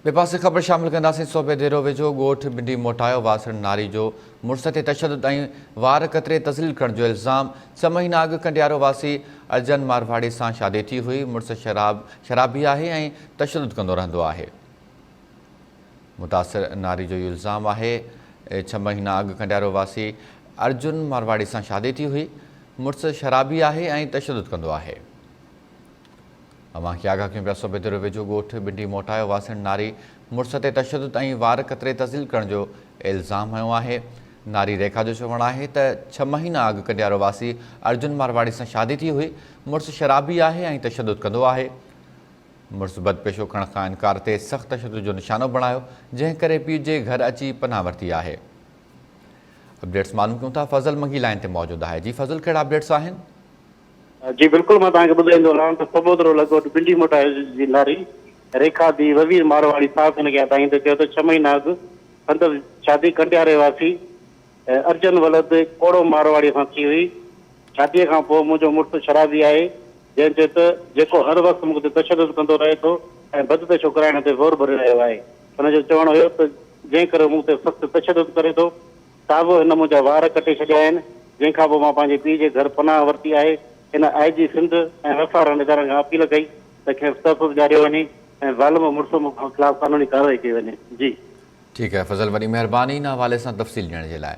ٻئي پاسي خبر شامل ڪنداسين صوبي ديرو ويجهو ڳوٺ بنڊي موٽايو واسڻ ناري جو مڙس تي تشدد ۽ وار ڪتري تذليل ڪرڻ جو الزام ڇهه مهينا اڳ ڪنڊيارو واسي ارجن مارواڙي سان شادي ٿي هئي مڙس شراب شرابي آهي ۽ تشدد ڪندو رهندو آهي متاثر ناري جو اهو الزام آهي ڇهه مهينا اڳ ڪنڊيارو واسي ارجن مارواڙي سان شادي ٿي هئي مڙس شرابي آهي ۽ تشدد ڪندو آهي اوهان کي آگاهه ڪيون پيا صوبي دوري ويجهو ڳوٺ بنڊي موٽايو واسڻ ناري مڙس تي تشدد ۽ وار ڪتري تذليل ڪرڻ جو الزام هنيو آهي ناري ريکا جو چوڻ آهي ته ڇهه مهينا اڳ ڪنڊيارو واسي ارجن مارواڙي سان شادي ٿي هئي مڙس شرابي آهي ۽ تشدد ڪندو آهي مڙس بدپيشو کڻ کان انڪار تي سخت تشدد جو نشانو بڻايو جنهن ڪري پيء جي گهر اچي پناهه ورتي آهي اپڊيٽس معلوم ڪيون ٿا فضل منگي لائن تي موجود آهي جي فضل ڪهڙا اپڊيٽس آهن جي بلڪل مان توهان کي ٻڌائيندو رهان ته سٻوترو لڳ ڀڳ پنڊي موٽا جي لاري ريکا ڌيء وزير مارواري صاحب هن کي اتاهين ته چيو ته ڇهه مهينا اڳ سندس شادي ڪنڊياري واسي ارجن ولد ڪوڙو مارواريء سان ٿي هئي شاديء کان پوء منهنجو مڙس شرابي آهي جنهن چيو ته جيڪو هر وقت مون تي تشدد ڪندو رهي ٿو ۽ بد پيشو ڪرائڻ تي زور ڀري رهيو آهي هن جو چوڻ هيو ته جنهن ڪري هو مون تي سخت تشدد ڪري ٿو صاحب هن منهنجا وار ڪٽي ڇڏيا آهن، جنهن کان پوء مان پنهنجي پيء جي گهر پناهه ورتي آهي. هن I G Sindh ۽ F R N ادارن کان اپيل ڪئي ته کيس تحفظ ڏياريو وڃي ۽ ظالم مڙس خلاف قانوني ڪارروائي ڪئي وڃي. جي. ٺيڪ آهي فضل وڏي مهرباني هن حوالي سان تفصيل ڏيڻ جي لاء.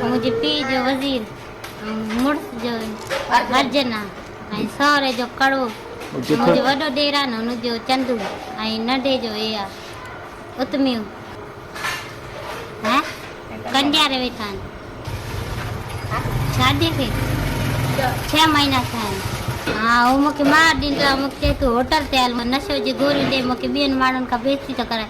منهنجي پيء جو وزير ۽ مڙس جو ورجن ۽ سهري جو ڪڙو، منهنجو وڏو ڏيران هن جو چندو ۽ ننڍي جو ايا اتميو هين ڪنڊياري ويٺا آهن. شاديء کي ڇهه مهينا ٿيا آهن. هو مون کي مهر ڏيندو آهي ۽ مون کي چئي ٿو هوٽل تي هل ۽ نشو جي گوريون ڏي مون کي ٻين ماڻهن کان بيستي ٿو ڪرائي.